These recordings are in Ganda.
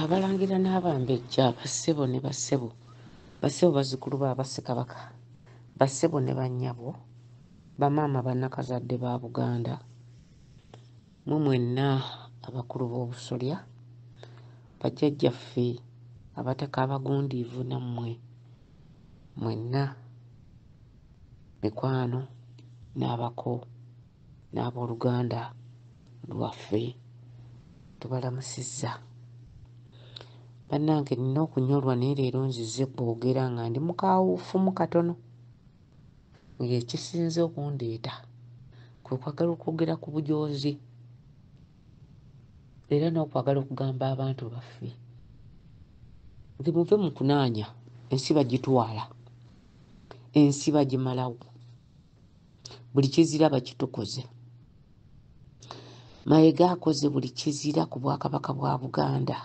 abalangira n'abambejja bassebo ne bassebo bassebo bazzukulu ba bassekabaka bassebo ne bannyabo bamaama bannakazadde ba buganda mwe mwenna abakulu b'obusolya bajjajjaffe abataka abagundiivu nammwe mwenna mikwano n'abako n'abooluganda lwaffe tubalamusizza bannange nina okunyolwa naye leero nzize kwogera nga ndi mukawuufumu katono ng'ekisinze okundeeta kwe kwagala okwogera ku bujoozi era n'okwagala okugamba abantu baffe nti muve mu kunaanya ensi bagitwala ensi bagimalawo buli kizira bakitukoze mayega akoze buli kizira ku bwakabaka bwa buganda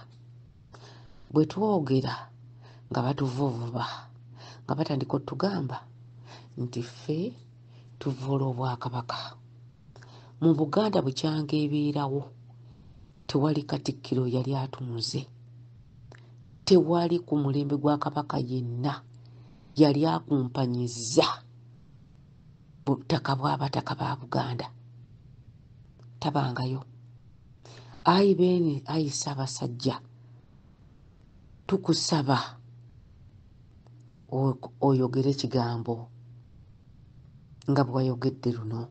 bwe twogera nga batuvuvuba nga batandika otugamba nti ffe tuvoola obwakabaka mu buganda bukyanga ebeerawo tewali katikkiro yali atunuze tewali ku mulembe gwa kabaka yenna yali akumpanyizza butaka bwabataka ba buganda tabangayo ayi beene ayi sabasajja tukusaba oyogere ekigambo nga bwewayogedde luno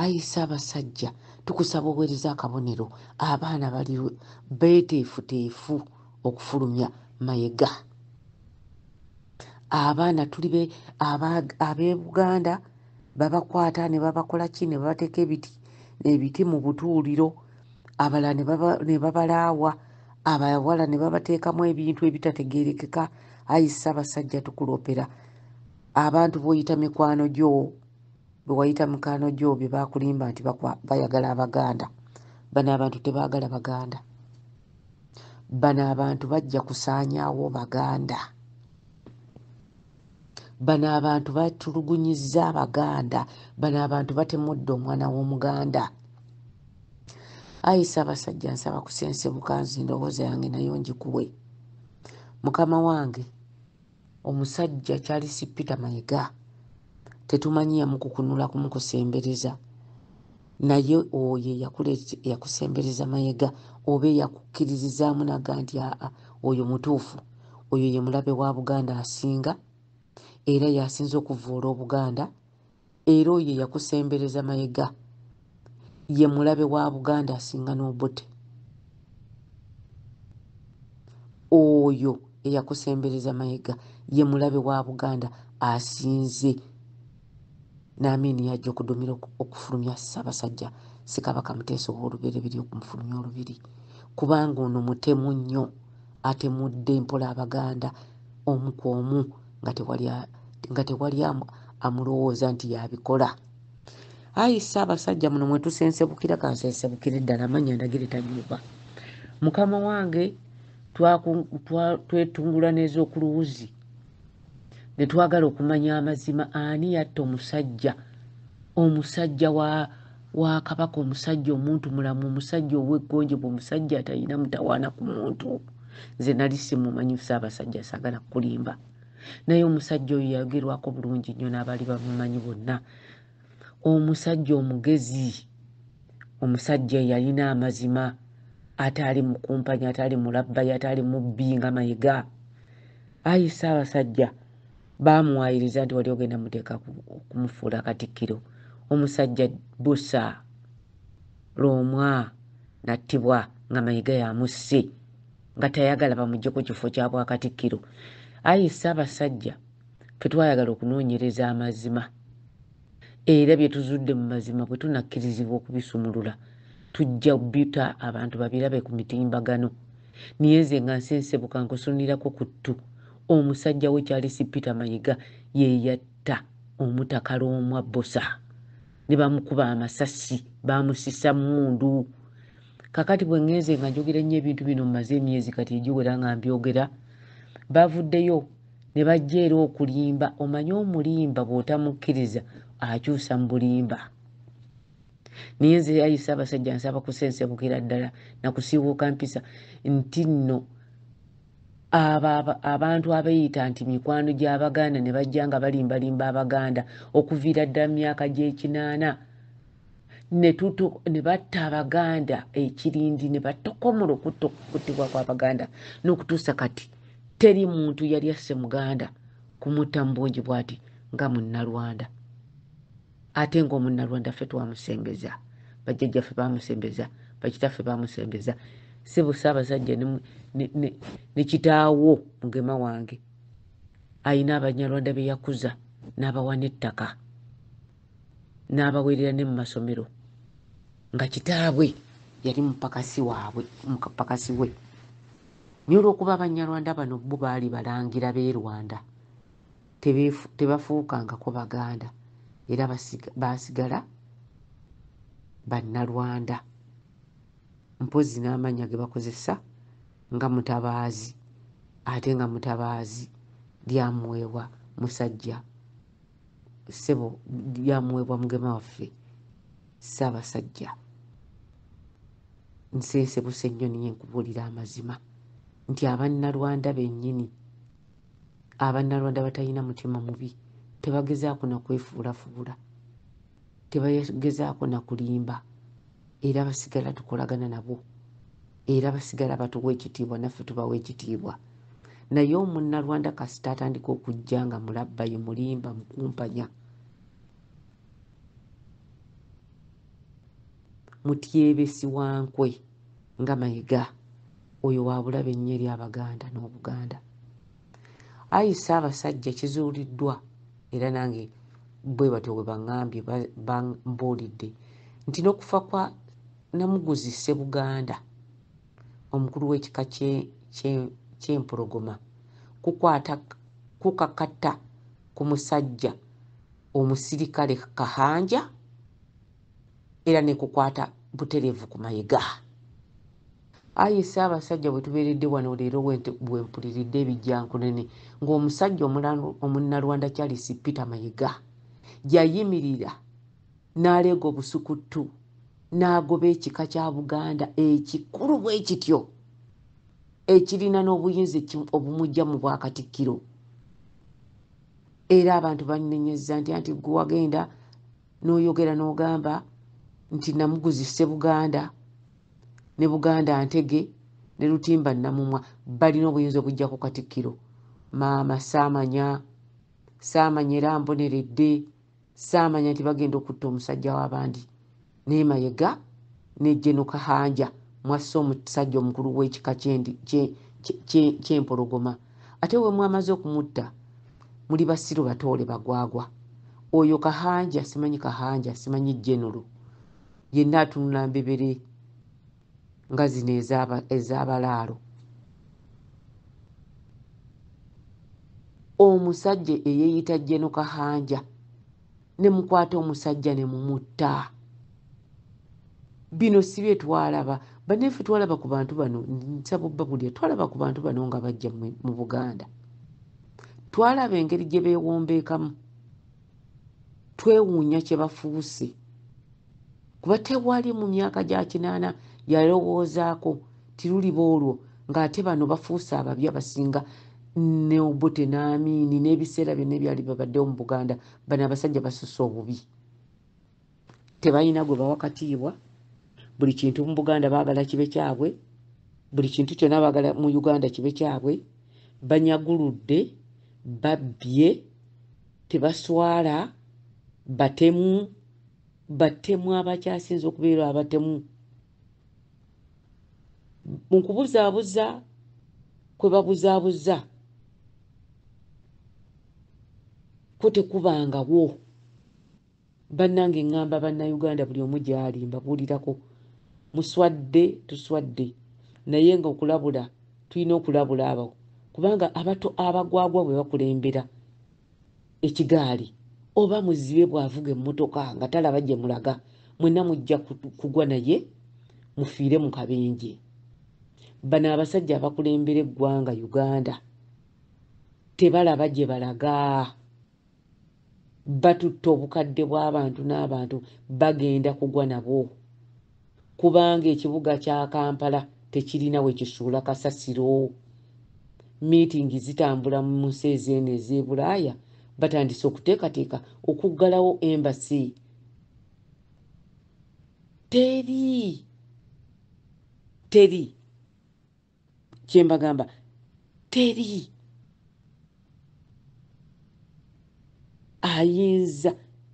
ayi sabasajja tukusaba owereza akabonero abaana bali beteefuteefu okufulumya mayega abaana tuli be ab'ebuganda babakwata ne babakola ki ne babateeka ebiti ebiti mu butuuliro abalala ne babalaawa abawala ne babateekamu ebintu ebitategeerekeka ayi ssaabasajja tukulopera abantu b'oyita mikwano gyo bwe wayita mikwano gyo bye baakulimba nti bayagala abaganda bano abantu tebaagala baganda bano abantu bajja kusaanyaawo baganda bano abantu batulugunyizza abaganda bano abantu batemudde omwana w'omuganda ayi sabasajja nsaba kusensebuka nzi ndowooza yange nayo ngikuwe mukama wange Omusajja Charles Peter Mayiga tetumanyi yamukukunula kumukusembereza naye oyo eyakusembereza Mayega oba eyakukkiririzaamu naga nti aa oyo mutuufu oyo ye mulabe wa Buganda asinga era yasinza okuvvoola Obuganda Era oyo eyakusembereza mayega ye mulabe wa Buganda asinga n'Obote. Oyo eyakusembereza mayega ye mulabe wa Buganda asinze n'amiini yajja okudumira okufulumya Ssabasajja Ssekabaka Muteesa ow'olubereberye okumufulumya olubiri kubanga ono mutemu nnyo. atemudde mpola abaganda omu ku omu nga tewali amulowooza nti yabikola ayi ssaabasajja muno mwe tusensebukira kansensebukire ddala amanya ndagire tanyuba mukama wange twetungula neeza okuluwuzi netwagala okumanya amazima ani yatta omusajja omusajja wa wa kabaka omusajja omuntu mulamu omusajja oweggonjebwa omusajja atalina mutawaana ku muntu nze nali simumanyi saabasajja sagala kukulimba naye omusajja oyo yayogerwako bulungi nnyo n'abaali bamumanyi bonna omusajja omugezi omusajja eyalina amazima ataali mukumpanya ataali mulabbayi ataali mubbi nga mayega Ayi Ssaabasajja, baamuwaayiriza nti wali ogenda muteeka okumufuula Katikkiro, omusajja busa Lwomwa n'attibwa nga Mayiga yamusse nga tayagala bamugye ku kifo kya Bwakatikkiro. Ayi Ssaabasajja, ffe twayagala okunoonyereza amazima Era bye tuzudde mu mazima bwe tunakkirizibwa okubisumulula, tujja bita abantu babirabe ku mitimbagano. Niye nze nga nsensebuka nkusunirako ku ttu, omusajja wo Charles Peter Mayiga ye yatta Omutaka Lwomwa Bbosa ne bamukuba amasasi, baamusisa mmundu. Kakati bwe ngenze nga njogera nnyo ebintu bino mmaze emyezi kati egiwera nga mbyogera, bavuddeyo ne bajja era okulimba omanye omulimba bw'otamukkiriza akyusa mu bulimba naye nze ayi ssaabasajja nsaba kusensebukira ddala nakusiiwuuka mpisa nti nno abo abantu abeeyita nti mikwano gy'abaganda ne bajja nga balimbalimba abaganda okuviira ddala mu myaka gy'ekinaana ne batta abaganda ekirindi ne batokomola okuttibwa kwabaganda n'okutuusa kati teri muntu yali asse muganda kumutta mu bungi bwati nga munnalwanda ate ngaomunnalwanda ffe twamusembeza bajjajjaffe bamusembeza bakitaffe bamusembeza sebo saabasajja ne kitaawo mugema wange alina abanyarwanda be yakuza n'abawa n'ettaka n'abaweerera ne mu masomero nga kitaabwe yali mupakasi waabwe mupakasi we naye olwokuba abanyarwanda bano bo baali balangira b'e rwanda tebafuukangako baganda era baasigala bannalwanda mpozzi n'amannya ge bakozesa nga mutabaazi ate nga mutabaazi lyamuweebwa musajja ssebo byamuweebwa mugema waffe ssaabasajja nsensebuse nnyo niye nkubuulira amazima nti abannalwanda bennyini abannalwanda batalina mutima mubi tebagezaako nakwefuulafuula tebagezaako na kulimba era basigala tukolagana nabo era basigala batuwa ekitiibwa naffe tubawa ekitiibwa naye omunnalwanda kasita atandika okujja nga mulabbayi mulimba mukumpanya mutyebesi wa nkwe nga mayiga oyo wabulabe nnyo eri abaganda n'obuganda Ayi Ssaabasajja kizuuliddwa era nange bwe batyo bwe bangambye bambuulidde nti n'okufa kwa Namuguzi Ssebuganda omukulu w'ekika ky'Empologoma kukwata kukakata ku musajja omusirikale Kahanja era ne kukwata butereevu ku Mayega. Ayi Ssaabasajja bwe tubeeredde wano leero bwe mpuliridde ebijjankunene ng'omusajja Omunnalwanda Charles Peter Mayiga yayimirira n'aleega obusukuttu n'agoba ekika kya Buganda ekikulu bwe kityo ekirina n'obuyinza obumujja mu bwakatikkiro era abantu bannenyezza nti anti gwe wagenda n'oyogera n'ogamba nti namuguzise Buganda ne buganda ntege ne lutimba namumwa balina obuyinza obujja ku katikkiro maama saamanya saamanya era mboneredde saamanya nti bagenda okutta omusajja w'abandi naye mayega ne jeno kahanja mwassa omusajja omukulu w'ekika kyempologoma ate we mwamaze okumutta muli basiru batoole bagwagwa oyo kahanja simanyi kahanja simanyi jenero yenna atunula mbebere nga zino ez'abalaalo omusajja eyeeyita jeno kahanja ne mukwata omusajja ne mumutta bino si bye twalaba banaffe twalaba ku bantu bano nsaba obba bulya twalaba ku bantu bano nga bajja mu buganda twalaba engeri gye beewombeekamu twewuunya kye bafuuse kuba tewali mu myaka gya kinaana yalowoozaako tiruliba olwo ng'ate bano bafuuse ababi abasinga ne obote n'amiini n'ebiseera byonna ebyali babaddewo mu buganda bano abasajja basusa obubi tebalina gwe bawa katiibwa buli kintu mu buganda baagala kibe kyabwe buli kintu kyonna baagala mu uganda kibe kyabwe banyaguludde babbye tebaswala batemu batemu abakyasinza okubeera abatemu mu kubuzaabuza kwe babuzaabuza kwo tekubangawo Banange ngamba banna Uganda buli omu gyali mbabuulirako muswadde tuswadde naye nga okulabula tulina okulabula abo kubanga abato abagwagwa bwe bakulembera ekigaali oba muzibe bw'avuga emmotoka nga talaba gye mulaga mwenna mujja kugwa naye mufiire mu kabenje bano abasajja abakulembera eggwanga uganda tebalaba gye balaga batutte obukadde bw'abantu n'abantu bagenda kugwa nabwo kubanga ekibuga kya kampala tekirina we kisuula kasasiro miitingi zitambula mu nsi ezeeno ez'e bulaaya batandise okuteekateeka okuggalawo embasi teri teri kyembagamba teri ayinza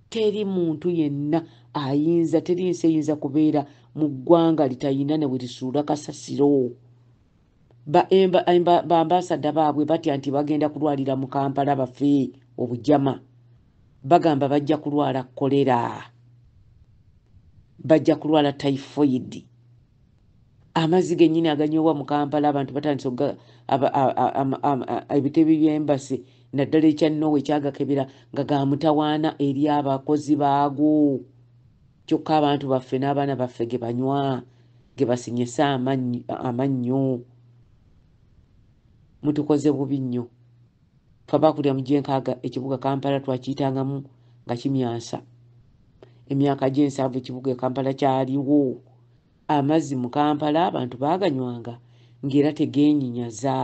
teri muntu yenna ayinza teri nsi eyinza kubeera mu ggwanga litayina ne bwe lisuula kasasiro bambasada baabwe batya nti bagenda kulwalira mu kampala bafe obujama bagamba bajja kulwala kolera bajja kulwala typhoidi amazzi gennyini aganywebwa mu kampala abantu batandise okuga ebitebe by'embasi naddala ekya nowa ekyagakebera nga ga mutawaana eri abakozi baago kyokka abantu baffe n'abaana baffe ge banywa ge basinyese amannyo mutukoze bubi nnyo fe abakulira mu gyenkaaga ekibuga kampala twakiyitangamu nga kimyansa emyaka gy'ensanvu ekibuga e kampala kyaliwo Amazzi mu Kampala abantu baaganywanga ng'era tegeenyinyaza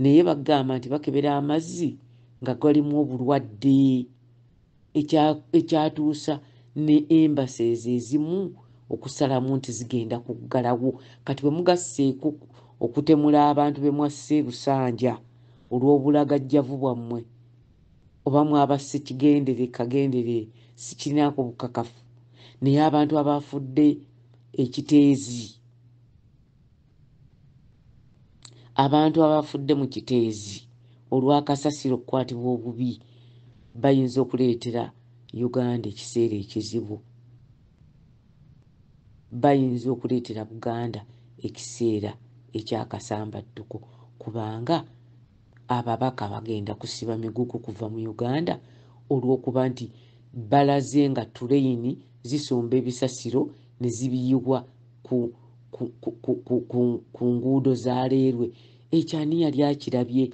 naye bagamba nti bakebera amazzi nga galimu obulwadde ekyatuusa ne embases ezimu okusalamu nti zigenda kuggalawo kati bwe mugasseeko okutemula abantu be mwassa e Busanja olw'obulagajjavu bwammwe oba mwaba sikigendere kagendere sikirinaako bukakafu naye abantu abaafudde ekiteezi abantu abaafudde mu kiteezi olw'akasasiro okukwatibwa obubi bayinza okuleetera uganda ekiseera ekizibu bayinza okuleetera buganda ekiseera ekyakasambattuko kubanga Ababaka bagenda kusiba migugu kuva mu Uganda olw'okuba nti balaze nga tuleyini zisomba ebisasiro ne zibiyiwa ku ku, ku, ku, ku, ku, ku nguudo za leerwe ekyo ani yali akirabye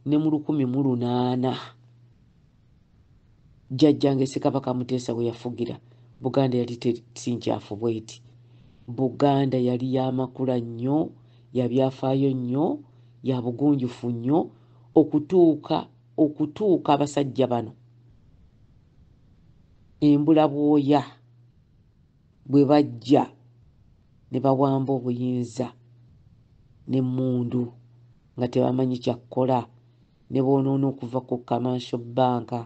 ne mu lukumi mu lunaana Jjajjange Ssekabaka Muteesa we yafugira, Buganda yali si nkyafu bweti. Buganda yali ya makula nnyo, ya byafaayo nnyo, ya bugunjufu nnyo okutuuka okutuuka abasajja bano embula bwoya bwe bajja ne bawamba obuyinza n'emmundu nga tebamanyi kyakkola ne boonoona okuva ku kamansho bbanka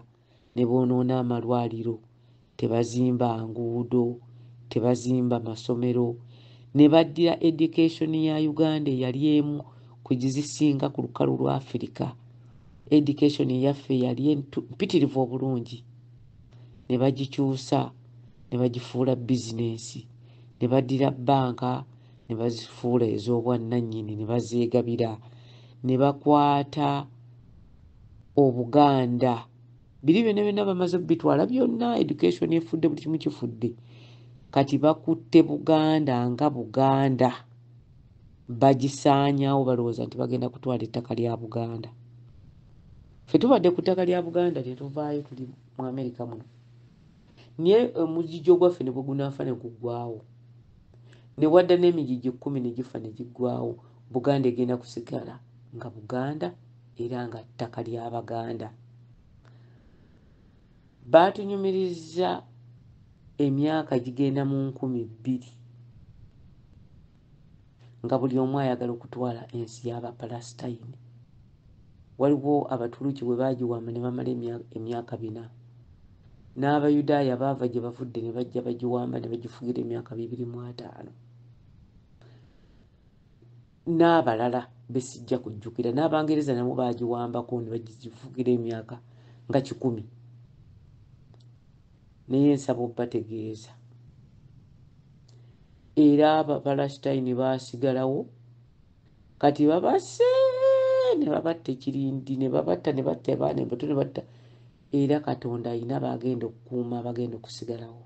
ne boonoona amalwaliro tebazimba nguudo tebazimba masomero ne baddira education ya uganda eyali emu ku gizisinga ku lukalu lwa afirika education eyaffe yali mpitirivu obulungi ne bagikyusa ne bagifuula bizinensi ne baddira bbanka ne bazifuula ez'obwannannyini ne bazeegabira ne bakwata Obuganda biri byonna byonna bamaze kubitwala byonna education efudde buli kimu kifudde kati bakutte Buganda nga Buganda bagisaanyawo balowooza nti bagenda kutwala ettaka lya buganda fe tubadde ku ttaka lya buganda tetuvaayo tuli mu amerika muno naye omugijjo eh, gwaffe ne bwe gunaafa ne guggwawo ne wadda n'emigigi ekkumi ne gifa ne giggwawo buganda egenda kusigala nga buganda era nga ttaka lya baganda baatunyumiriza emyaka gigenda mu nkumi bbiri nga buli omu ayagala okutwala ensi y'abapalasitayini waliwo abatuluki bwe baagiwamba ne bamala emyaka bina n'abayudaaya baava gye bavudde ne bajja bagiwamba ne bagifugira emyaka bibiri mu ataano n'abalala besijja kujjukira n'abangereza nabo baagiwambako ne bagifugira emyaka nga kikumi Naye nsaba obategeeza era abapalasitayini baasigalawo kati babase ne babatta ekirindi ne babatta ne batta abaana embato ne batta era katonda alina baagenda okukuuma abagenda okusigalawo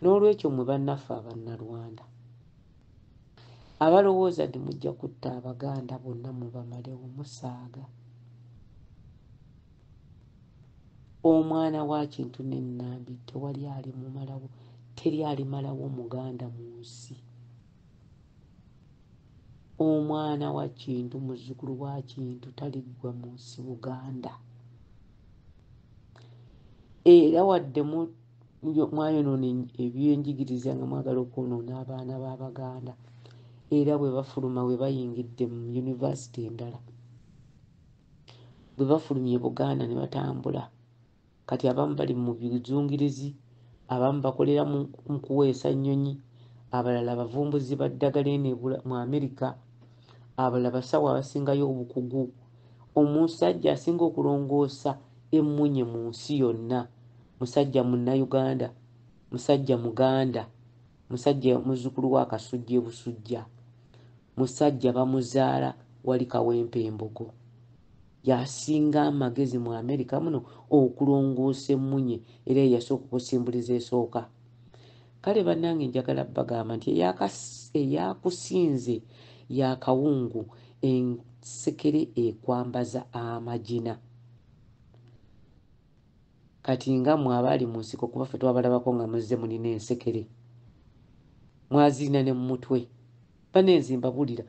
n'olwekyo mwe bannaffe abannalwanda abalowooza nti mujja kutta abaganda bonna mubamalewo musaaga omwana wa kintu ne Nambi tewali alimumalawo, teri alimalawo muganda mu nsi. Omwana wa kintu, muzzukulu wa kintu taliggwa mu nsi Buganda. Era wadde mu mwayonoona ebyenjigiriza nga mwagala okwonoona abaana b'Abaganda era bwe bafuluma bwe bayingidde mu yunivasite endala bwe bafulumye Buganda ne batambula kati abamu bali mu bizungirizi abamu bakolera mu kuweesa nnyonyi abalala bavumbuzi ba ddagala eno mu amerika abalala basawo abasingayo obukugu omusajja asinga okulongoosa emmunye mu nsi yonna musajja munnauganda musajja muganda musajja muzzukulu wa kasujja ebusujja musajja bamuzaala wali kawempe embogo yasinga amagezi mu amerika muno okulongoosa emmunye era eyasooka okusimbuliza esooka kale bannange njagala bagamba nti eyakusinze yakawungu ensekere ekwambaza amagina Kati nga mwe abaali mu nsiko kuba ffe twabalabako nga muzze mulina ensekere mwazirina ne mumutwe banenzi mbabulira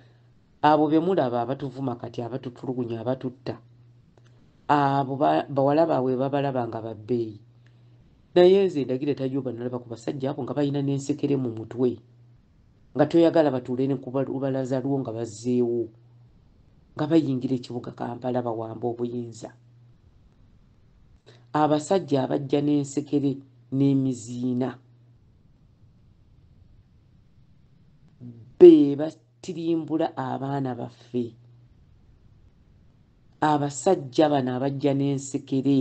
abo bemulaba abatuvuma kati abatutulugunya abatutta abo bawala baabwe babalaba nga babbeeyi naye nze ndagire tajoba nalaba ku basajja abo nga balina n'ensekere mu mutwe nga toyagala batuule ne ku lubalaza lwo nga bazzeewo nga bayingira ekibuga kampala bawamba obuyinza abasajja abajja n'ensekere n'emiziina be batirimbula abaana baffe abasajja bano abajja n'ensekere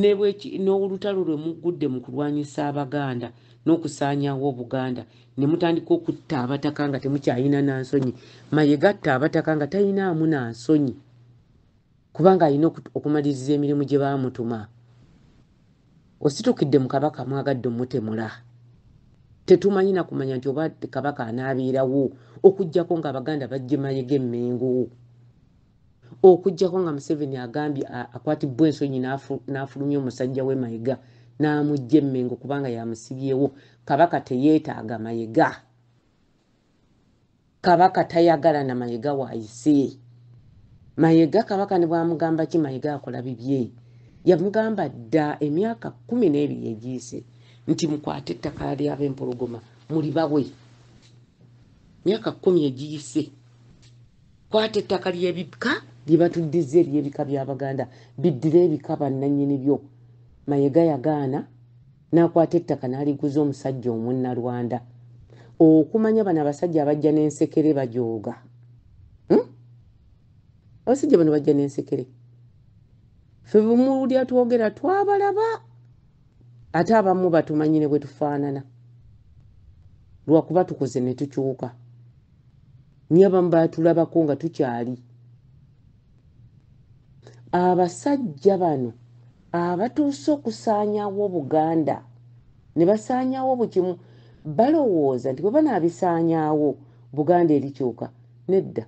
Ne bwe ki, n'olutalo lwe muggudde mu kulwanyisa Abaganda n'okusaanyaawo Obuganda, ne mutandika okutta Abataka nga temukyalina na nsonyi. Mayega atta Abataka nga talinaamu na nsonyi, kubanga alina okumaliriza emirimu gye baamutuma. Ositukidde mu Kabaka mwagadde omutemula. Tetumanyi na kumanya nti oba Kabaka anaabeerawo, okuggyako ng'Abaganda baggye Mayega e Mmengo. okujjako nga museveni agambye akwatibbwa ensonyi n'afulumya omusajja we mayega n'amujja emmengo kubanga yamusibyewo kabaka teyeetaaga mayega kabaka tayagala na mayega waayise mayega kabaka ne bwamugamba ki mayega akola bibye yamugamba dda emyaka kumi n'ebiri egiyise nti mukwate ettaka lyaba empologoma muli bawe myaka kumi egiyise Kwata ettaka ly'ebika lye batuddizza ery'ebika bya Baganda biddire ebika bannannyini byo. Mayega yagaana n'akwata ettaka n'aliguza omusajja Omunnalwanda. Okumanya bano abasajja abajja n'ensekere bajooga. Hmm? Abasajja bano bajja n'ensekere. Ffe bumulya twogera twabalaba ate abamu batumanyi ne bwe tufaanana lwakuba tukoze ne tukyuka. nyo abamu batulabako nga tukyali abasajja bano abatuuse okusaanyawo obuganda ne basaanyawo bukimu balowooza nti bwe banaabisaanyawo buganda eri kyoka nedda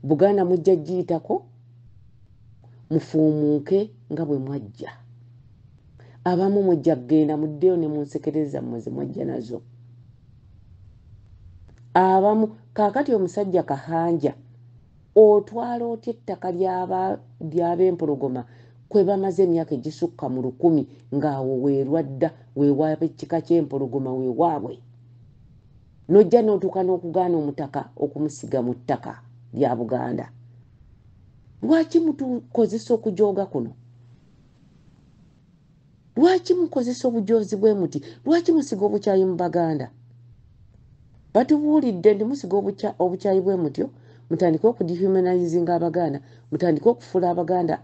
buganda mujja giyitako mufuumuuke nga bwe mwajja abamu mujja kugenda muddeyo ne munsekereza mmwe ze mwajja nazo abamu kaakati omusajja kahanja otwala otya ettaka ly'abempologoma kwe bamaze emyaka egisukka mu lukumi ng'awo weerwadda weewaaba ekkika ky'empologoma weewaabwe nojja notuuka n'okugaana omutaka okumusiga mu ttaka lya buganda lwaki mutukozesa okujooga kuno lwaki mukozesa obujoozi bwe muti lwaki musiga obukyayi mu baganda batubuulidde nti musiga obukyayi bwe mutyo mutandike okudehumanizinga abaganda mutandike okufuula abaganda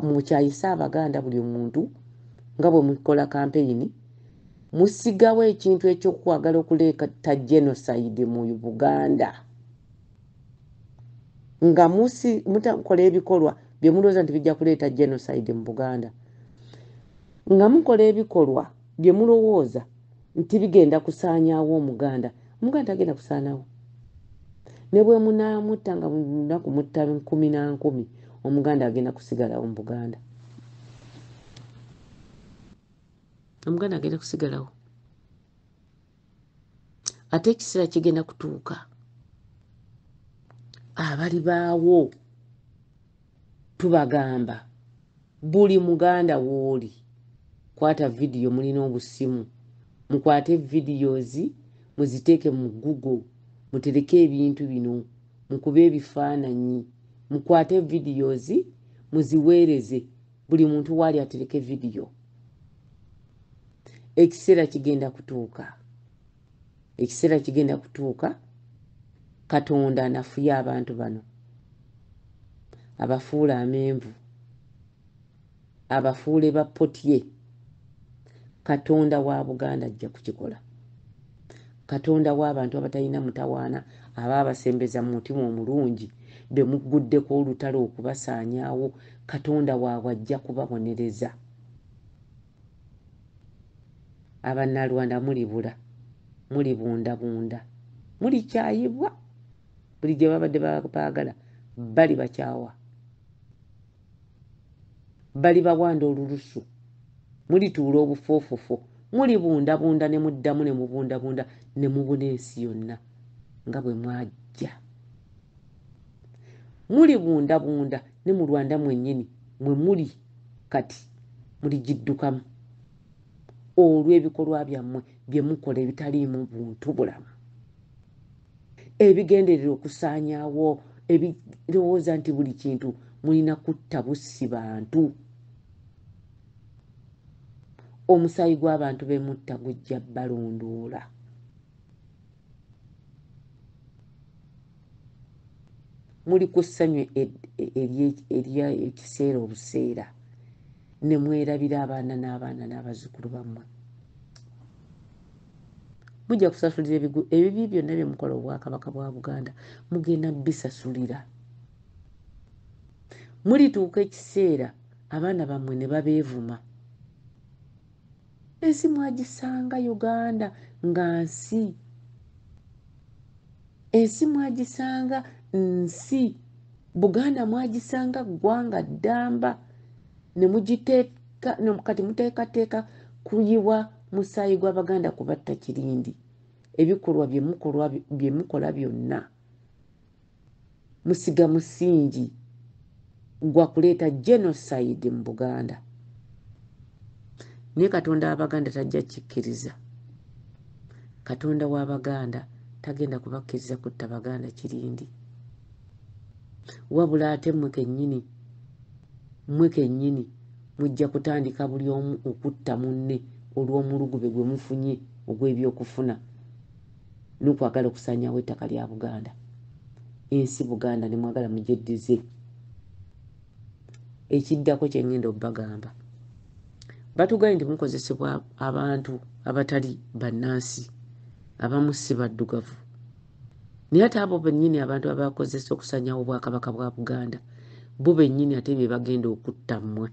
mukyayise abaganda buli omuntu nga bwe mukola kampeyini Musigawo ekintu ekyokwagala okuleeta genocide mu Buganda nga musi mutakola ebikolwa byemulowooza nti bijja kuleeta genocide mu Buganda nga mukola ebikolwa byemulowooza nti bigenda kusaanyaawo Omuganda Omuganda tagenda kusaanawo ne bwe munaamutta nga lunaku mutta nkumi na nkumi Omuganda agenda kusigalawo mu Buganda. omuganda agenda kusigalawo ate ekiseera kigenda kutuuka abali baawo tubagamba buli muganda wooli kwata vidiyo mulina obusimu mukwate videos muziteeke mu google mutereke ebintu bino mukube ebifaananyi mukwate videos muziweereze buli muntu waali atereke vidiyo ekiseera kigenda kutuuka ekiseera kigenda kutuuka katonda anafuye abantu bano abafuula amenvu abafuule bapotye katonda wa buganda ajja kukikola katonda w'abantu abatalina mutawaana aba abasembeza mu mutima omulungi be mugguddeko olutalo okubasaanyaawo katonda waabwe ajja kubabonereza abannalwanda mulibula mulibundabunda mulikyayibwa buli gye babadde baagala bali bakyawa bali bawanda olulusu mulituula obufoofofo mulibundabunda ne muddamu ne mubundabunda ne mubuna ensi yonna nga bwe mwajja mulibundabunda ne mu rwanda mwennyini mwe muli kati muligiddukamu olw'ebikolwa byammwe bye mukola ebitaliimu buntu bulamu ebigenderera okusaanyaawo ebirowooza nti buli kintu mulina kutta bussi bantu omusaayi gw'abantu bemutta gujja balondoola muli ku ssanyu ery'ekiseera obuseera ne mwerabira abaana n'abaana n'abazzukulu bammwe mujja kusasulira ebigu ebibi byonna bye mukola obwakabaka bwa buganda mugenda bisasulira mulituuka ekiseera abaana bammwe ne babeevuma ensi mwagisanga uganda nga nsi ensi mwagisanga nsi buganda mwagisanga ggwanga ddamba nemugiteeka kati muteekateeka kuyiwa musaayi gw'abaganda kubatta kirindi ebikolwa bye mukola byonna musiga musingi gwa kuleeta genocide mu buganda naye katonda wabaganda tajja kikkiriza katonda wabaganda tagenda kubakkiriza kutta baganda kirindi wabula ate mmwe kennyini mmwe kennyini mujja kutandika buli omu okutta munne olw'omulugube gwe mufunye ogw'ebyokufuna n'okwagala okusaanyawo ettaka lya buganda ensi buganda ne mwagala mugyeddize ekiddako kye ngenda okubagamba batugaye nti mukozesebwa abantu abatali bannansi abamu si baddugavu naye ate abo bennyini abantu abakozesa okusanyawo obwakabaka bwa buganda bo bennyini ate be bagenda okutta mmwe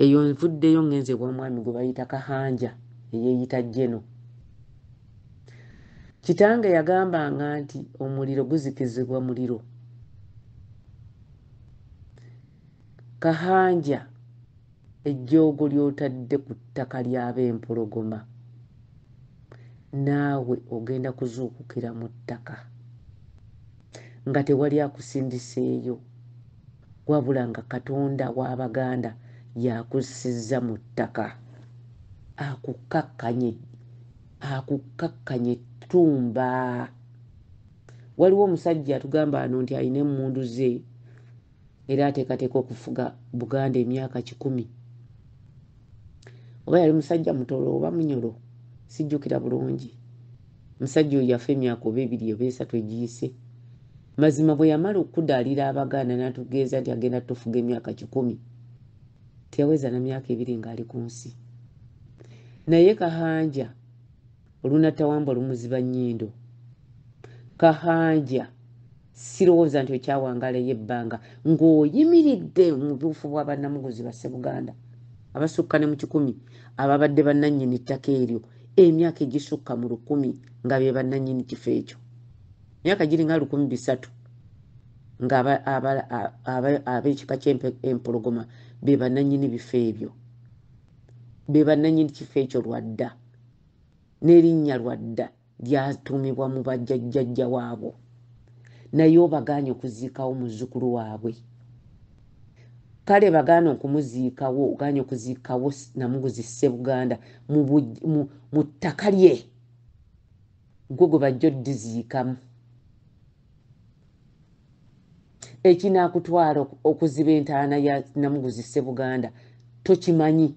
eyo nvuddeyo ngenze ew'omwami gwe bayita kahanja eyeeyita jeno kitange yagambanga nti omuliro guzikizibwa muliro kahanja Ejjoogo ly'otadde ku ttaka ly'Abempologoma, naawe ogenda kuzuukukira mu ttaka nga tewali akusindiseeyo wabula nga Katonda w'Abaganda y'akussizza mu ttaka akukkakkanye akukkakkanye ttumba. Waliwo omusajja atugamba wano nti alina emmundu ze. era ateekateeka okufuga buganda emyaka kikumi oba yali musajja mutolo oba munyolo sijjukira bulungi musajja oyo yafa emyaka oba ebiri oba esatu egiyise mazima bwe yamala okukudaalira abaganda n'atugeeza nti agenda tufuga emyaka kikumi teyaweza na myaka ebiri ng'ali ku nsi naye kahanja olunatawambwa lumuziba nnyindo kahanja sirowooza nti okyawangala ey'ebbanga ng'oyimiridde mu buufu bwa bannamuguzi basse buganda abasukka ne mu kikumi ababadde bannannyini ttaka eryo emyaka egisukka mu lukumi nga be bannannyini kifo ekyo myaka giringa lukumi bisatu ng'ab'ekika ky'empologoma be bannannyini bifo ebyo be bannannyini kifo ekyo lwadda n'erinnya lwadda lyatuumibwa mu bajjajjajja waabwo naye obagaanye okuziikawo muzzukulu waabwe kale bagaana okumuziikawo ogaanye okuziikawo namuguzi ssebuganda mu ttaka lye gwe gwe bajja oddiziikamu ekinaakutwala okuziba entaana ya namuguzi ssebuganda tokimanyi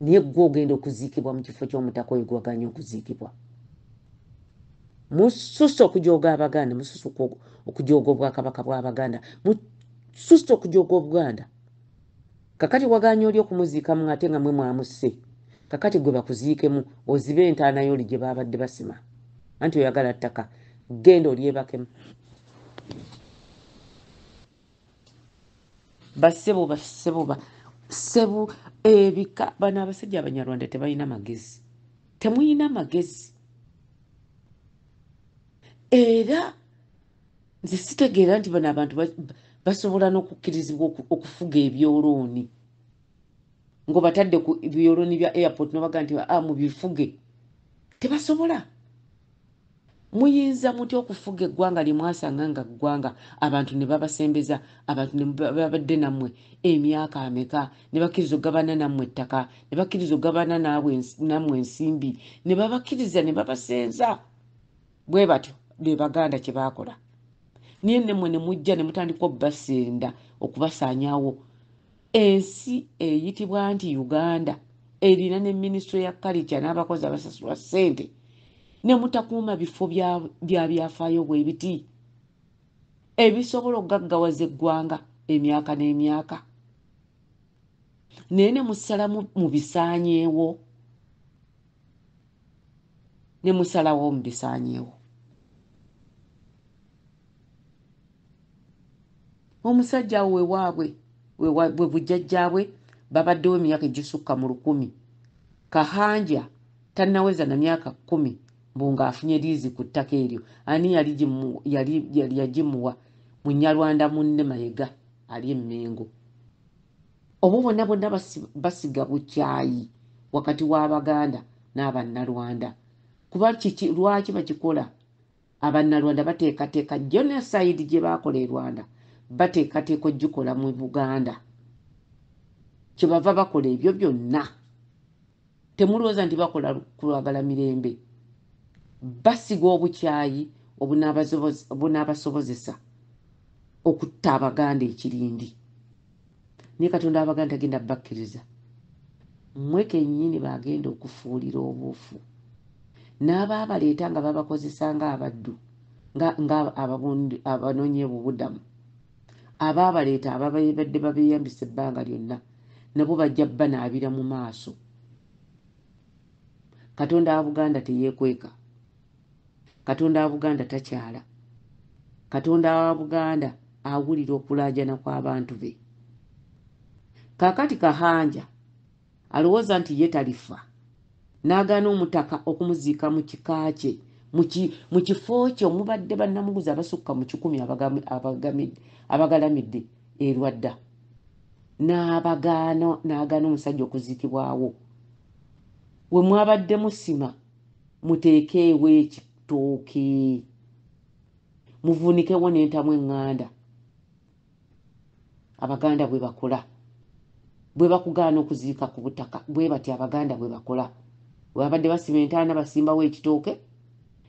naye gwe ogenda okuziikibwa mu kifo ky'omutaka oyo gwaganya okuziikibwa mususa okujooga abaganda mususa okujooga obwakabaka bw'abaganda mususa okujooga obuganda kakati waganya oli okumuziikamu ate nga mwe mwamusse kakati gwe bakuziikemu ozibe entaana yooli gye baabadde basima anti oyagala ttaka genda olyebakemu basebo basebo ba sebu ebika bana abasajja abanyarwanda tebalina magezi temuyina magezi era nze sitegeera nti bano abantu basobola n'okukkirizibwa okufuga ebyolooni ngaobatadde ku byolooni bya airport nobaga nti ah, mubifuge tebasobola Muyinza mutya okufuga eggwanga lye mwasanga nga ggwanga abantu ne babasembeza, abantu ne babadde nammwe emyaka ameka, ne bakkiriza okugabana nammwe ettaka, ne bakkiriza okugabana nammwe ensimbi, ne babakkiriza ne babasenza bwe batyo be baganda kye baakola naye nemmwe ne mujja ne mutandika okubasenda okubasaanyawo Ensi eyitibwa nti Uganda erina ne minisitule ya kalica n'abakozi abasasulwa ssente ne mutakuuma bifo bya byafaayo bwe biti ebisobola okugaggawaza eggwanga emyaka n'emyaka naye ne musala mu bisaanyeewo ne musalawo mu bisaanyeewo omusajja awo wewaabwe bwe bujjajjaabwe babaddewo emyaka egisukka mu lukumi kahanja tannaweza na myaka kkumi mbu ng'afunye liizi ku ttaka eryo ani yali yagimuwa munyarwanda munne mayega ali emmengo obo bonna bonna basiga bukyayi wakati w'abaganda n'abannarwanda kuba lwaki bakikola abannalwanda bateekateeka genocide gye baakola e rwanda bateekateeka ogikola mu buganda kyebava bakola ebyo byonna temulowooza nti bakola kulwagala mirembe basiga obukyayi obunaabasobozesa okutta abaganda ekirindi naye katonda abaga nti agenda bakkiriza mmwe kennyini baagenda okufuulira obuufu n'abaabaleeta nga babakozesa ng'abaddu ng'abanonye bubudamu abaabaleeta ababadde babeeyambisa ebbanga lyonna nabo bajja banaabira mu maaso katonda wa buganda teyeekweka katonda wa buganda takyala katonda wa buganda awulira okulanjana kw'abantu be kakati kahanja alowooza nti ye talifa n'agaana omutaka okumuziika mu kika kye mu kifo kye omubadde bannamuguzi abasukka mu kikumi abagalamidde erwadda n'abagaana n'agaana omusajja okuziikibwawo we mwabadde musima muteekeewo ekitooke muvunikewo n'entamu eŋŋanda abaganda bwe bakola bwe bakugaana okuziika ku butaka bwe bati abaganda bwe bakola webabadde basima entaana basimbawo ekitooke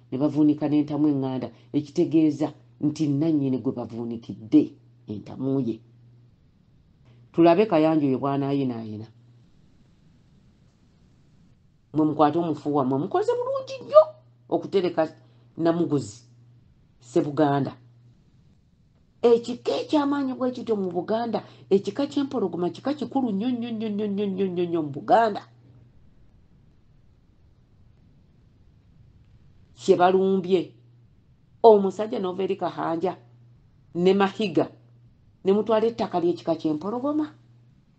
ne bavuunika n'entamu eŋŋanda ekitegeeza nti nannyini gwe bavuunikidde entamu ye tulabe kayanja oyo bwanaayinaayina mwe mukwate omufu wamwe mukoze bulungi nnyo okutereka namuguzi sebuganda ekika ekyamaanyi bwe kityo mu buganda ekika kyempologoma kika kikulu nnyo nnyo nnyo nnyo nnyo nnyo nnyo nnyo mu buganda kye balumbye omusajja nova eri kahanja ne mahiga ne mutwala ettaka ly'ekika kyempologoma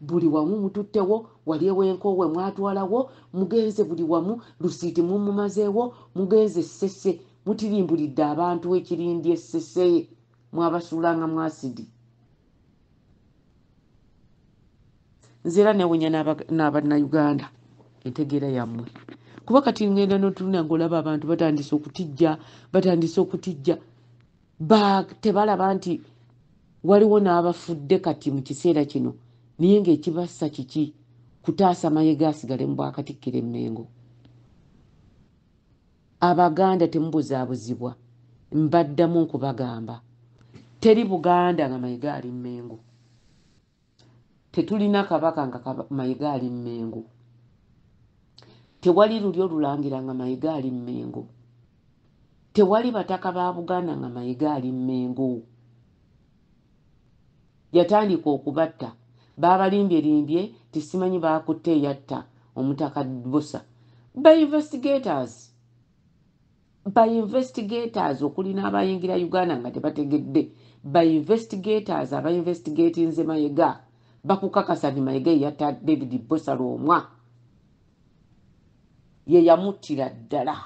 buli wamu mututtewo wali ewenkoowe mwatwalawo mugenze buli wamu lusiiti mumumazeewo mugenze essese mutirimbulidde abantu ekirindi essese mwabasuulanga mu asidi nze era newunya n'abannayuganda entegeera yammwe kuba kati ngenda notunula ngaolaba abantu batandise okutijja batandise okutijja ba tebalaba nti waliwo n'abafudde kati mu kiseera kino naye ng'ekibassa kiki kutaasa mayega asigale mu bwakatikkira emmengo abaganda temubuzaabuzibwa mbaddamu nkubagamba teri buganda nga mayega ali mmengo Tetulina kabaka nga Mayiga ali Mmengo. Tewali lulyo lulangira nga Mayiga ali Mmengo. Tewali bataka ba Buganda nga Mayiga ali Mmengo. Yatandika okubatta. Baabalimbye-limbye nti simanyi baakutte eyatta Omutaka Bbosa. Ba investigators. ba investigators okuli n'abayingira uganda nga tebategedde ba investigators aba investigatinze mayega bakukakasa nti mayega eyatta david bosa lwomwa ye yamuttira ddala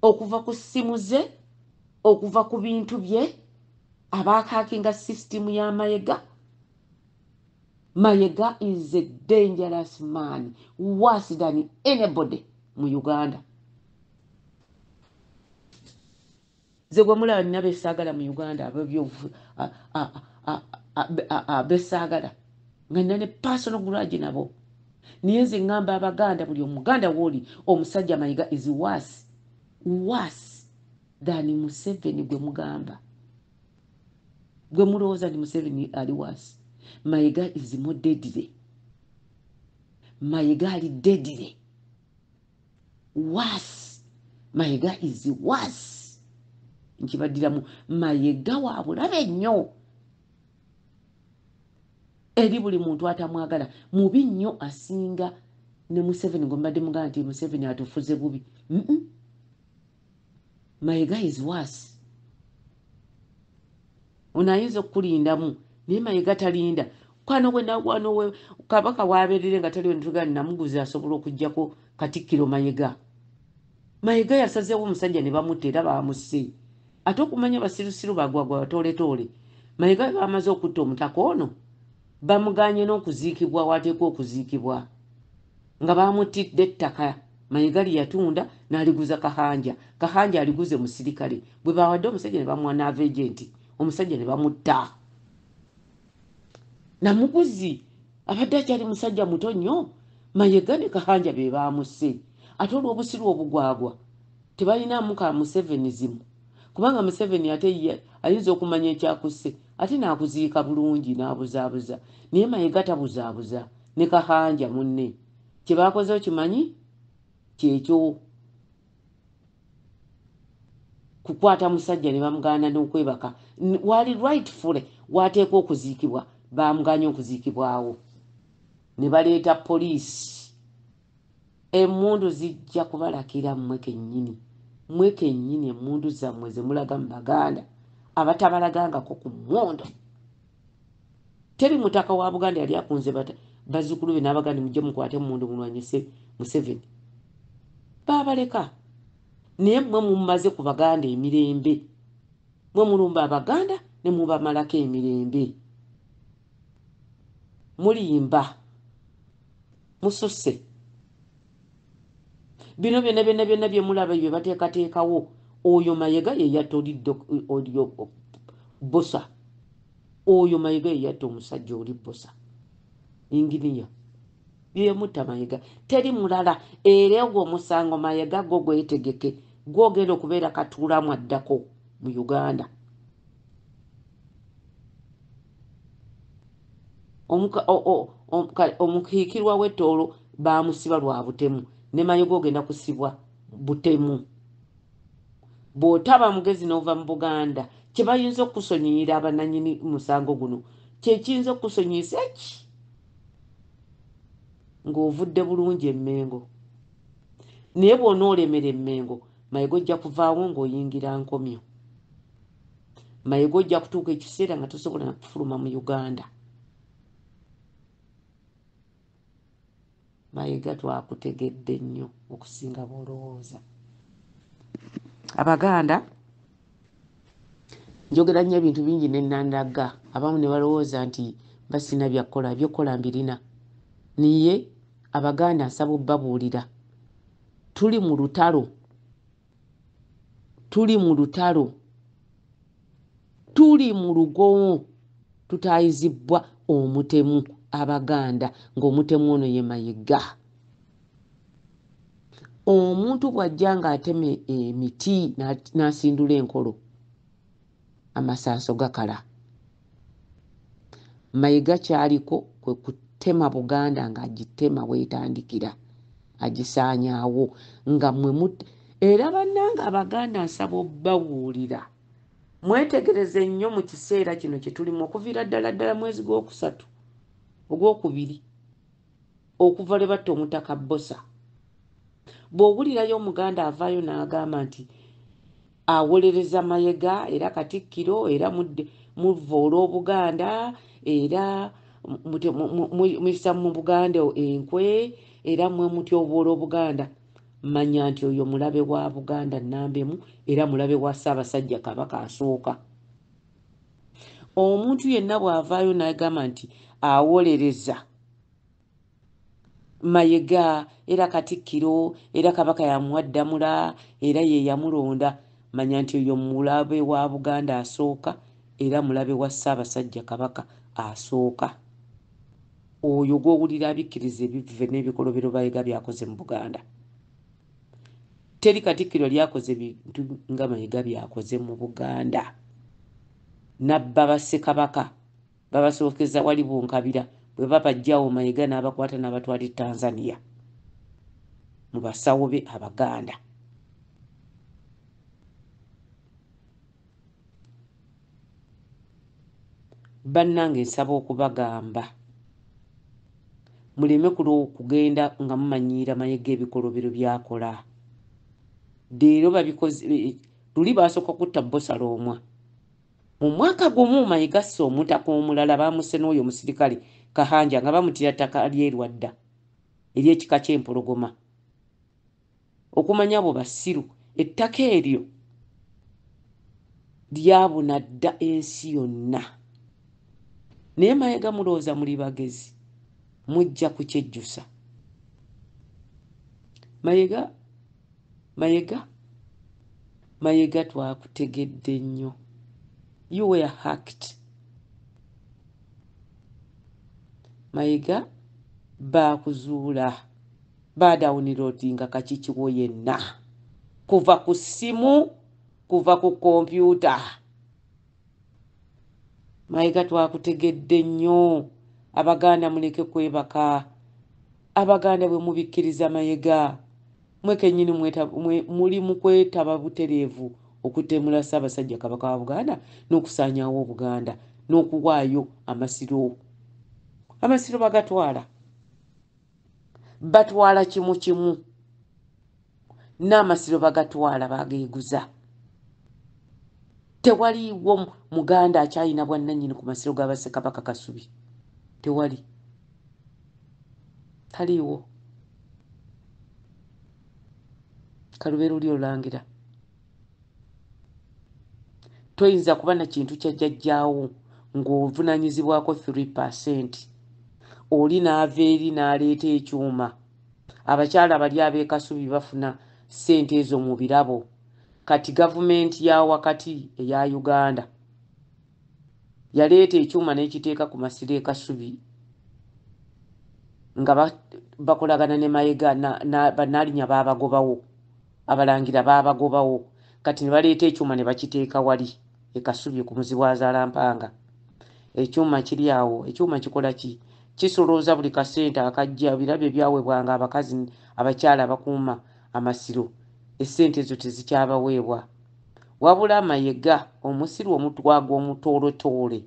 okuva ku ssimu ze okuva ku bintu bye abaakakinga sisitimu ya mayega Mayega is a dangerous man worse than anybody mu Uganda. Nze gwe mulaba nina besaagala mu Uganda abebyovu besaagala nga nina ne personal grudge nabo naye nze ngamba Abaganda buli omuganda wooli omusajja Mayega is worse worse than Museveni gwe mugamba. gwe mulowooza ndi museveni ali waasi mayiga izimu dedire mayiga ali dedire waasi mayiga izi waasi nkibaddiramu mayiga wa bulabe nnyo eri buli muntu atamwagala mubi nnyo asinga ne museveni gwe mbadde mugamba nti museveni atufuze bubi mm -mm. mayega is worse ono ayinza okukulindamu naye mayega talinda kwano wenawano kabaka waberere nga taliwo nitugani namuguzi asobola okujjako katikkiro mayega mayega yasazewo omusajja ne bamutta era bamusse ate okumanya basirusiru bagwagwa batoletoole mayega bamaze okutta omutaka ono bamuganye n'okuziikibwa waateekwa okuziikibwa nga baamuttidde ettaka mayigali yatunda n'aliguza kahanja kahanja aliguze musirikale bwe baawadde omusajja ne bamuwa naava egenti omusajja ne bamutta namuguzi abadde akyali musajja muto nnyo mayega ne kahanja be baamusse ate olw'obusiru obugwagwa tebalinaamu ka museveni zimu kubanga museveni ate ayinza okumanya ekyakusse ate nakuziika bulungi nabuzaabuza naye mayega tabuzaabuza ne kahanja munne kyebakoze okimanyi kyekyo kukwata musajja ne bamugaana n'okwebaka waali rightfully wateekwa okuziikibwa bamuganye okuziikibwawo ne baleeta poliisi Emmundu zijja kubalakira mmwe kennyini, mmwe kennyini emmundu zammwe ze mulaga mu Baganda abatabalagangako ku mmundu. Teri mutaka wa Buganda yali akunze bazzukulu be n'abaganda mujje mukwate emmundu mulwanyise Museveni. Baabaleka naye mmwe mumaze ku Baganda emirembe. Mmwe mulumba Abaganda ne mubamalako emirembe. Mulimba. mususse bino byona byona byona byemulaba ebyo bateekateekawo oyo mayega yeyatta oli bosa oyo mayega yeyatta omusajja oli bosa inginiya byeyamutta mayega teri mulala era ogwo omusango mayega gwo gwetegeke gwogenda okubeera katuulamu addako mu uganda omukiikirwa w'ettoolo baamusiba lwa butemu ne mayoga ogenda kusibwa butemu bw'otaba mugezi n'ova mu buganda kye bayinza okusonyiyira abananyini musango guno kyekiyinza okusonyiyisa eki ng'ovudde bulungi emmengo naye bw'onoolemera emmengo mayiga ojja kuvaawo ng'oyingira nkomyo mayega ojja kutuuka ekiseera nga tosobola nakufuluma mu uganda mayega twakutegedde nnyo okusinga bwolowooza abaganda njogera nnyo ebintu bingi nenandagga abamu ne balowooza nti basina byakukola byokukola mbirina naye abaganda nsaba obubabuulira tuli mu lutalo tuli mu lutalo tuli mu lugowo tutaayizibbwa omutemu abaganda ng'omutemu ono ye mayiga omuntu bw'ajja ng'atema emiti n'asindula enkolo amasanso gakala mayiga kyaliko kwe kutema buganda ng'agitema wetandikira agisaanyaawo nga mwe mut era bannanga abaganda nsaba obbawuulira mwetegereze nnyo mu kiseera kino kye tulimu okuviira ddala ddala mwezi gw'okusatu ogw'okubiri okuva lwe batta omutaka bbosa bw'owulirayo omuganda avaayo n'agamba nti awolereza mayega era katikkiro era muvva olw'obuganda era muyisa mu buganda enkwe era mwe mutya obwola obuganda manya nti oyo mulabe wa buganda nambemu era mulabe wa ssaabasajja kabaka asooka omuntu yenna bw'avaayo n'agamba nti awolereza mayega era katikkiro era kabaka yamuwa ddamula era ye yamulonda manya nti oyo mulabe wa buganda asooka era mulabe wa ssaabasajja kabaka asooka oyo gw'owulira abikkiriza ebivve n'ebikolobero bayega byakoze mu buganda teri katikkiro yali akoze bintu nga mayega byakoze mu buganda nabba bassekabaka babasookeza wali bunkabira bwe babajjawo mayega n'abakwata n'abatwali e tanzania mu basawo be abaganda bannange nsaba okubagamba muleme kugenda nga mumanyiira mayega ebikolobero byakola leero babikoze luli baasooka kutta bosala omwa mu mwaka gumu mayega ssa omutaka omulala baamuse n'oyo omusirikale kahanja nga bamutira ttaka lyerwadda eryekika ky'empologoma okumanya abo basiru ettaka eryo lyabuna dda ensi yonna naye mayega mulowooza muli bagezi mujja kukyejjusa mayega mayega mayega twakutegedde nnyo you were hacked mayega baakuzuula Badawuniloodinga kaki kiwo yenna kuva ku ssimu, kuva ku kompyuta. Mayiga twakutegedde nnyo. Abaganda muleke kwebaka. Abaganda bwe mubikkiriza Mayega, mwe kennyini muli mu kwetaba butereevu okutemula Ssaabasajja Kabaka wa Buganda n'okusaanyaawo Obuganda n'okuwaayo Amasiro. Amasiro bagatwala. batwala kimu kimu n'amasiro bagatwala bageeguza tewaliwo muganda akyalina bwannanyini ku masiro ga basekabaka kasubi tewali taliiwo kalubeeruli olangira toyinza kuba na kintu kya jjajjaawo ng'ovunaanyizibwako 3 percent oli n'ava eri n'aleeta ekyuma abakyala bali ab'ekasubi bafuna ssente ezo mu birabo kati gavumenti ya wakati eya uganda yaleeta ekyuma n'ekiteeka ku masiro e kasubi nga bakolagana ne mayega banaalinya baabagobawo abalangira baabagobawo kati ne baleeta ekyuma ne bakiteeka wali e kasubi ku muzibu azaala mpanga ekyuma kiri awo ekyuma kikola ki kisolooza buli kasente akajja birabo ebyaweebwanga abakazi abakyala abakuuma amasiro essente ezo tezikyabaweebwa Wabula Mayega omusiru omutwa gw'omutoolotoole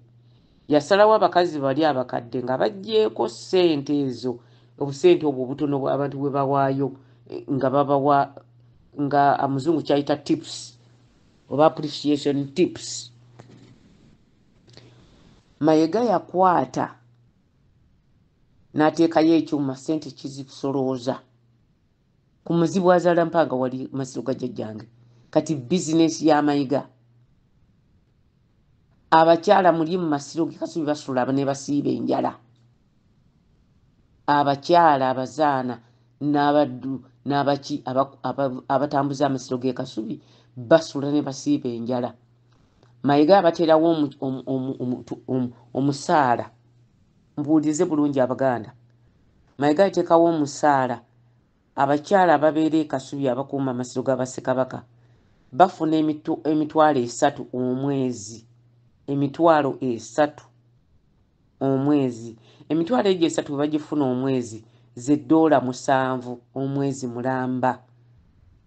yasalawo abakazi bali abakadde nga baggyeeko ssente ezo obusente obwo obutono abantu bwe bawaayo eh, nga babawa nga amuzungu kyayita tips oba appreciation tips mayega yakwata n'ateekayo ekyuma ssente kizisolooza Ku muzibu azaala mpanga wali masiro ga jajjange. Kati business ya mayiga. Abakyala muli mu masiro ge kasubi basula ne basiiba enjala. Abakyala abazaana n'abaddu n'abaki abatambuza amasiro ge kasubi basula ne basiiba enjala. Mayiga abaterawo omusaala. Mubuulirize bulungi Abaganda. Mayega yateekawo omusaala abakyala ababeera e Kasubi abakuuma amasiro ga Bassekabaka bafuna emitwalo esatu omwezi emitwalo esatu omwezi emitwalo egyo esatu bwe bagifuna omwezi ze ddoola musanvu omwezi mulamba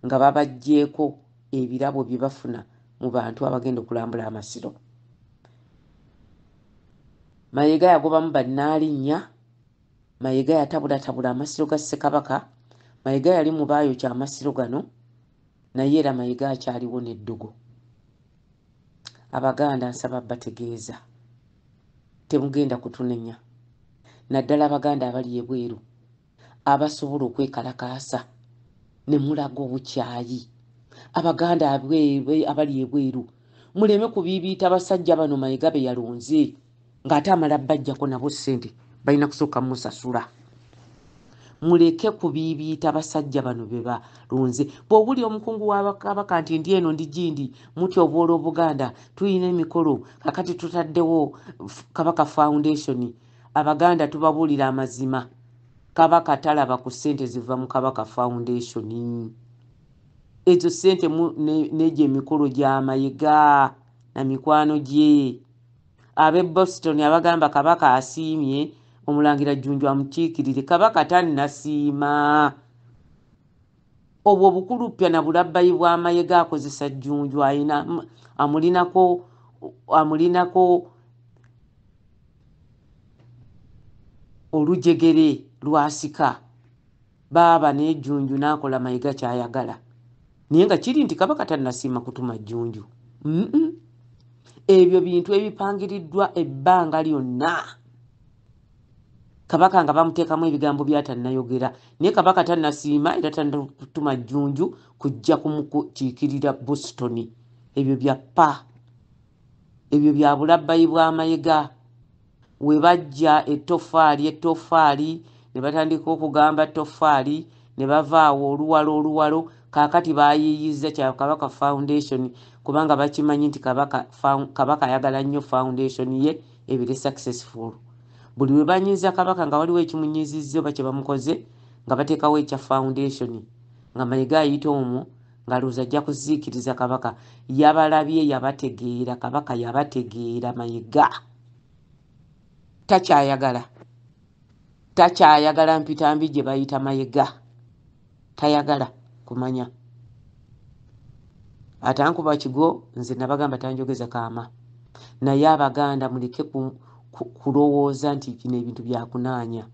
nga babaggyeko ebirabo bye bafuna mu bantu abagenda okulambula amasiro mayega yagobamu bannaalinya mayega yatabulatabula amasiro ga ssekabaka mayega yali mu baayokya amasiro gano naye era mayega akyaliwo n'eddogo abaganda nsaba bategeeza temugenda kutunenya naddala abaganda abali ebweru abasobola okwekalakaasa ne mulaga obukyayi abaganda abali ebweru muleme kubiibiita basajja bano mayega be yalonze ng'ate amala bajjako nabo ssente balina kusooka musasula muleke kubiibiita basajja bano be balonze bw'owuli omukungu wabakabaka nti ndi eno ndi gindi muti obwola obuganda tulina emikolo kakati tutaddewo kabaka foundation Abaganda tubabulira amazima kabaka talaba ku sente ziva mu kabaka foundation ezo sente nejo emikolo gyamayega na mikwano gye abe boston abagamba kabaka asiimye omulangira jjunju amukiikirire kabaka tannasiima obwo obukuluppya na bulabbayi bw'amayega akozesa jjunju ayina amulinako amulinako olujegere lwasika baaba n'ejjunju n'akola mayega ky'ayagala naye nga kiri nti kabaka tannasiima kutuma jjunju ebyo bintu ebipangiriddwa ebbanga lyonna kabaka nga bamuteekamu ebigambo byatannayogera naye kabaka tannasiima era tanatuma jjunju kujja kumukiikirira boston ebyo bya pa ebyo bya bulabbayi bw'amayega we bajja ettofaali ettofaali ne batandika okugamba ttofaali ne bavaawo oluwalo oluwalo kaakati baayiiyizza kya kabaka foundation kubanga bakimanyi nti kabaka ayagala nnyo foundation ye ebire successful buli lwe banyiiza kabaka nga waliwo ekimunyiizizza oba kye bamukoze nga bateekawo ekya foundation nga mayiga ayita omwo ng'alowooza ajja kuziikiriza kabaka yabalabye yabategeera kabaka yabategeera mayiga takyayagala takyayagala mpitambi gye bayita mayiga tayagala kumanya atankuba kigo nze nabagamba tanjogeza kaama naye abaganda muleke kulowooza nti bino ebintu byakunaanya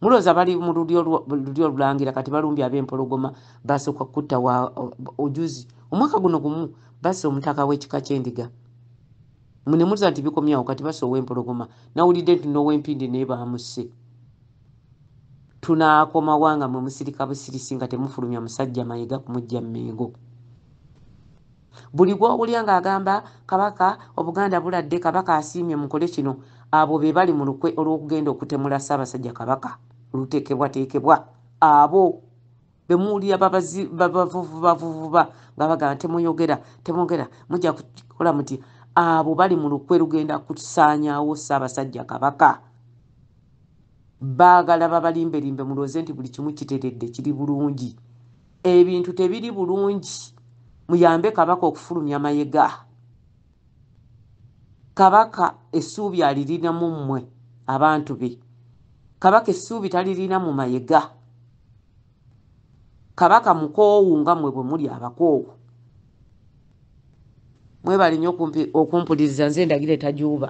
mulooza bali mu lulyo olulangira kati balumbye ab'empologoma basooka kutta wa ojuzi omwaka guno gumu basa omutaka w'ekika ky'endiga mune muza nti bikomyawo kati basa ow'empologoma nawulidde nti n'ow'empindi naye baamusse Tunaakomawa nga mwe musirika busirisi nga temufulumya musajja mayega kumujja mengo buli gwowulya ng'agamba kabaka obuganda buladde kabaka asiimye mukole kino abo be bali mu lukwe olw'okugenda okutemula ssaabasajja kabaka lutekebwateekebwa abo bemuwulira babavuvubavuvuba nga bagana temuyogera temwogera mujja kukola muti abo bali mu lukwe lugenda kusaanyawo ssaabasajja kabaka baagala babalimbelimbe mulooze nti buli kimu kiteredde kiri bulungi ebintu tebiri bulungi muyambe kabaka okufulumya mayega Kabaka essuubi alirina mu mmwe abantu be. Kabaka essuubi talirina mu mayega. Kabaka mukoowu nga mmwe bwe muli abakoowu. Mwebale nnyo okumpuliriza nze ndagire tajuuba.